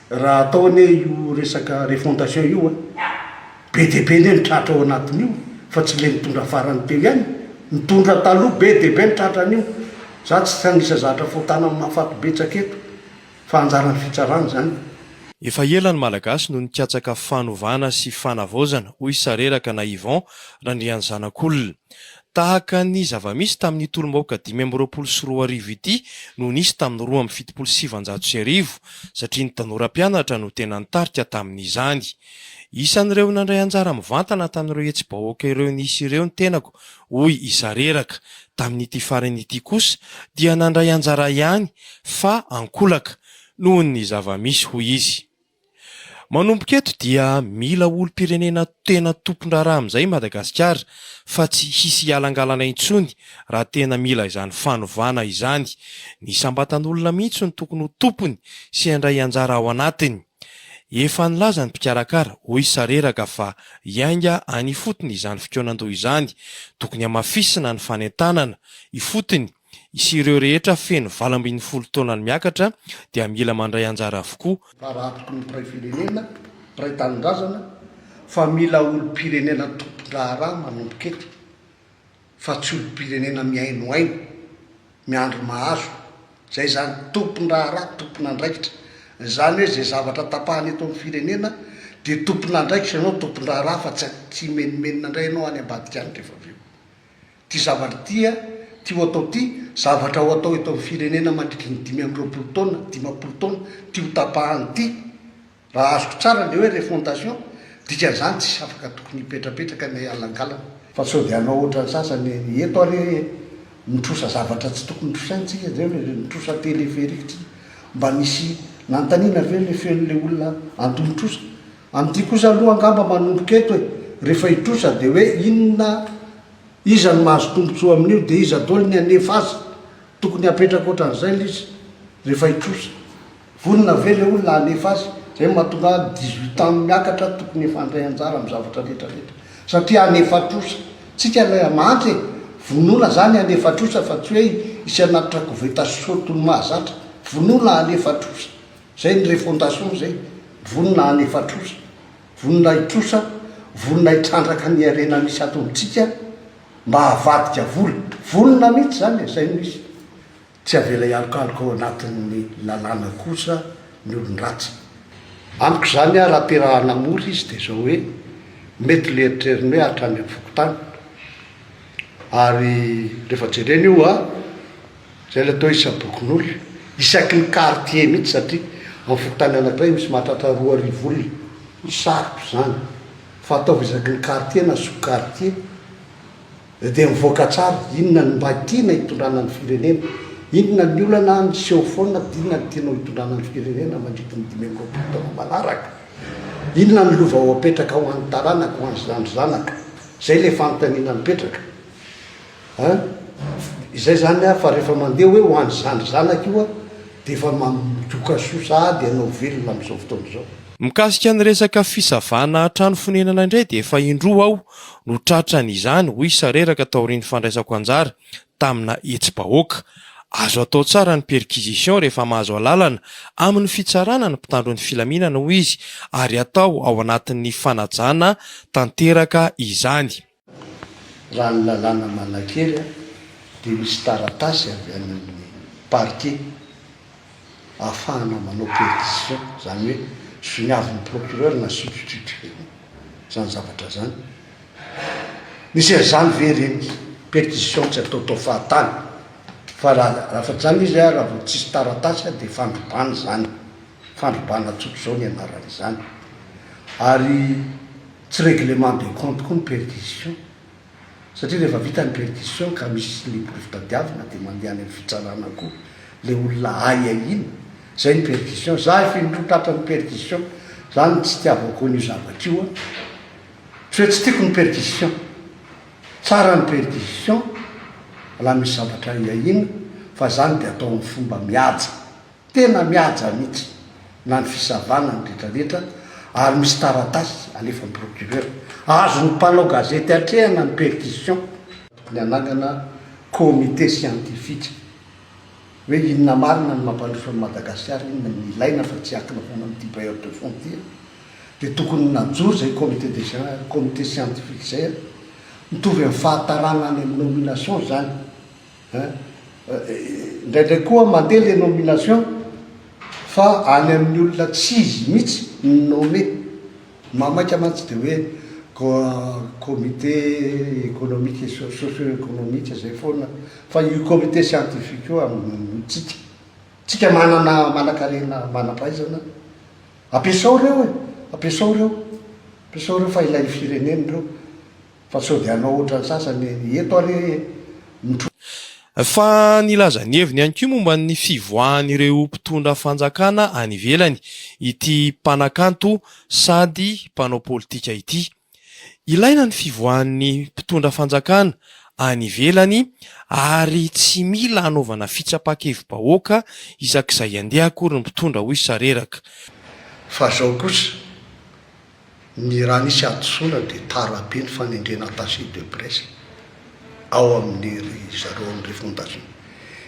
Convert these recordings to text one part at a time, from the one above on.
Raha atao anie io resaka refondation io a, be dia be anie ny tratra ao anatin'io fa tsy ilay nitondra farany teo ihany, nitondra taloha be dia be ny tratra anio, za tsy hanisa zatra fo tanana mahafaty betsaka eto fa anjaran'ny fitsarana izany. Efa ela ny Malagasy no nikatsaka fanovana sy fanavaozana, hoy sareraka na Yvon Randrianzanakolona. Tahaka ny zava-misy tamin'ny tolom-bahoaka dimy amby roapolo sy roa arivo ity no nisy tamin'ny roa amby fitopolo sy sivinjato sy arivo satria ny tanora mpianatra no tena nitarika tamin'izany. Isan'ireo nandray anjara mivantana tamin'ireo hetsi-bahoaka ireo nisy ireo ny tenako, hoy i Sareraka. Tamin'ity farany ity kosa dia nandray anjara ihany fa ankolaka noho ny zava-misy, hoy izy. Manomboka eto dia mila olom-pirenena tena tompon-draharaha amin'izay i Madagasikara fa tsy hisy hialangalana intsony raha tena mila izany fanovana izany. Ny isam-batan'olona mihitsy no tokony ho tompony sy handray anjara ao anatiny. Efa nilaza ny mpikarakara, hoy Sareraka, fa hiainga any ifotony izany fikaonan-doha izany. Tokony hamafisina ny fanentanana ifotony sy ireo rehetra feno valo ambin'ny folo taonany miakatra dia mila mandray anjara avokoa. Tara atoky ny mpiray firenena, mpiray tanindrazana fa mila olom-pirenena tompon-draharaha manomboka eto fa tsy olom-pirenena mihainohaino, miandry mahazo, izay izany, tompon-draharaha, tompon'andraikitra. Izany hoe izay zavatra tapahana eto amin'ny firenena dia tompon'andraikitra ianao, tompon-draharaha fa tsy tsy himenomenona indray ianao any ambadika any rehefa avy eo. Ty zavatra ty a, ty ho atao ty, zavatra ho atao eto amin'ny firenena mandritry ny dimy amby roapolo taona, dimampolo taona, ty ho tapahany ty, raha azoko tsara ny hoe refondation, dikan'izany tsisy afaka tokony hipetrapetraka ny alangalana. Fa sao dia hanao ohatran'ny sasany eto ary e, mitrosa zavatra tsy tokony trosainy tsika zay hoe mitrosa téléphérique tsika, mba nisy nanontaniana ve le feon'le olona anto mitrosa, Amin'ity kosa aloha angamba manomboka eto e! Rehefa hitrosa dia hoe inona? Iza no mahazo tombontsoa amin'io? Dia iza daholo ny hanefa azy? Tokony hapetraka ohatran'izay ilay izy rehefa hitrosa. Vonona ve ilay olona hanefa azy? Izay no mahatonga ahy dix huit ans miakatra tokony efa handray anjara amin'ny zavatra rehetra rehetra satria hanefa trosa. Tsika ilay hamantra e! Vonona izany hanefa trosa fa tsy hoe hisy hanatitra koveta sy short ho ny mahazatra. Vonona hanefa trosa. Zay ny refondation zay, vonona hanefa trosa, vonona hitrosa, vonona hitrandraka ny harena misy ato amintsika mba havadika vola, vonona mihitsy zany e, zay no izy. Tsy avela hialokaloka ao anatin'ny lalàna kosa ny olon-dratsy. Amiko izany aho raha te-rahana mora izy dia izao hoe, mety le eritreriny hoe hatrany amin'ny fokontany, ary rehefa jerena io a, Zay le toa isabokin'olona, isaky ny quartier mihitsy satria amin'ny fokontany anankiray misy mahatratra roa arivo olona, sarotra izany fa ataovy isaky ny quartier na sous quartier dia mivoaka tsara inona no mba tiana hitondrana ny firenena, inona ny olana miseho foana dia inona no tianao hitondrana ny firenena mandritry ny dimy amby roapolo taona manaraka, inona ny lova ho apetraka ho an'ny taranaka, ho an'ny zandry zanaka, zay le fanontaniana mipetraka. An! izay zany aho fa rehefa mandeha hoe ho an'i zandry zanaka io aho dia efa mandoka soa sahady hanao velona amin'izao fotoana izao. Mikasika ny resaka fisavana trano fonenana indray dia efa indroa aho no tratran' izany, hoy Sareraka taorian'ny fandraisako anjara tamina hetsi-bahoaka. Azo atao tsara ny perquisition rehefa mahazo alalana amin'ny fitsarana ny mpitandro ny filaminana, hoy izy, ary atao ao anatin'ny fanajana tanteraka izany. Raha ny lalàna manankery dia misy taratasy avy any amin'ny parquet ahafahana manao perquisition, izany hoe vinavin'ny procureur na substitut izany zavatra izany. Misy an'izany ve ireny perquisition tsy ataotao fahatany? Fa raha afa-tsy izany izy, raha vao tsisy taratasy dia fandrobana izany. Fandrobana tsotra izao ny anaran'izany. Ary tsy règlement de compte koa ny perdition. Satria rehefa vita ny perdition ka misy ny porofontadiavina dia mandeha any amin'ny fitsarana koa ilay olona ahiahiana. Izay ny perdition. Za efa indroa tratran'ny perdition. Za no tsy itiavako an'io zavatra io an. Tsy hoe tsy tiako ny perdition. Tsara ny perdition raha misy zavatra ahiahiana fa izany dia atao amin'ny fomba mihaja. Tena mihaja mihitsy na ny fisavana ny retraretra ary misy taratasy alefan'ny procureur. Azon'ny mpanao gazety atrehana ny perquisition ny hanangana comité scientifique hoe inona marina ny mampandroso an'i Madagasikara, inona no ilaina fa tsy hiankina foana amin'ity bailleur de fonds ity an! Dia tokony najoro izay comité de comité scientifique izay an! Mitovy amin'ny fahatarana any amin'ny nomination izany. Indraindray koa mandeha ilay nomination fa any amin'ny olona tsy izy mihitsy no nomme. Mamaika mantsy dia hoe comité économique et socio-économique izay foana fa io comité scientifique io amintsika. Tsika manana manankarena manam-pahaizana ampiasao ireo e! Ampiasao ireo, ampiasao ireo fa ilain'ny firenena ireo. Fa sao dia hanao ohatran'ny sasany eto ary hoe mitrosa. Fa nilaza ny heviny ihany koa momba ny fivoahan'ireo mpitondra fanjakana any ivelany ity mpanakanto sady mpanao politika ity. Ilaina ny fivoahan'ny mpitondra fanjakana any ivelany ary tsy mila anaovana fitsapa-kevi-bahoaka isak'izay andeha akory ny mpitondra hoy Sareraka. Fa zao kosa, Ny raha nisy hadisoana dia tarabe ny fanendrena attaché de presse ao amin'ny ry zareo ao amin'ny refondation.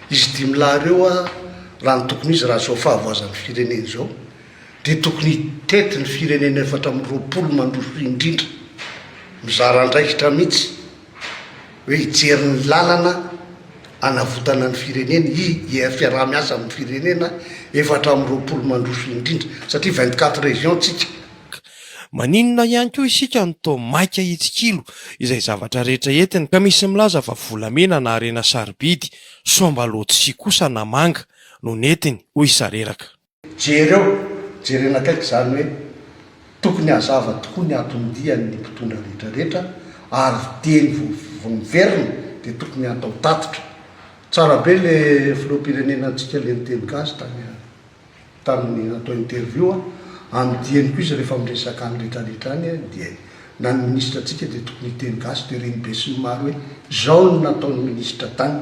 Izy dimy lahy ireo a, raha ny tokony izy raha izao fahavoazan'ny firenena izao dia tokony hitety ny firenena efatra amby roapolo mandroso indrindra, mizara andraikitra mihitsy. hoe hijery ny lalana hanavotana ny firenena i IR fiaraha-miasa amin'ny firenena efatra amby roapolo mandroso indrindra satria vingt quatre régions tsika. Maninona ihany koa isika no toa maika hitsikilo izay zavatra rehetra entiny ka misy milaza fa volamena na harena sarobidy, soambalao tsy kosa na manga no nentiny, hoy Sareraka. Jereo, jerena akaiky izany hoe tokony hazava tokoa ny aton-dian' ny mpitondra rehetra rehetra ary dieny vao vao miverina dia tokony hatao tatitra. Tsara be le filoham-pirenena antsika le niteny gasy tany tamin'ny natao interview a! Amin'ny dieny koa izy rehefa miresaka any rehetra rehetra any dia na ny ministra antsika dia tokony hiteny gasy dia reny besinimaro hoe zao no nataon'ny ministra tany.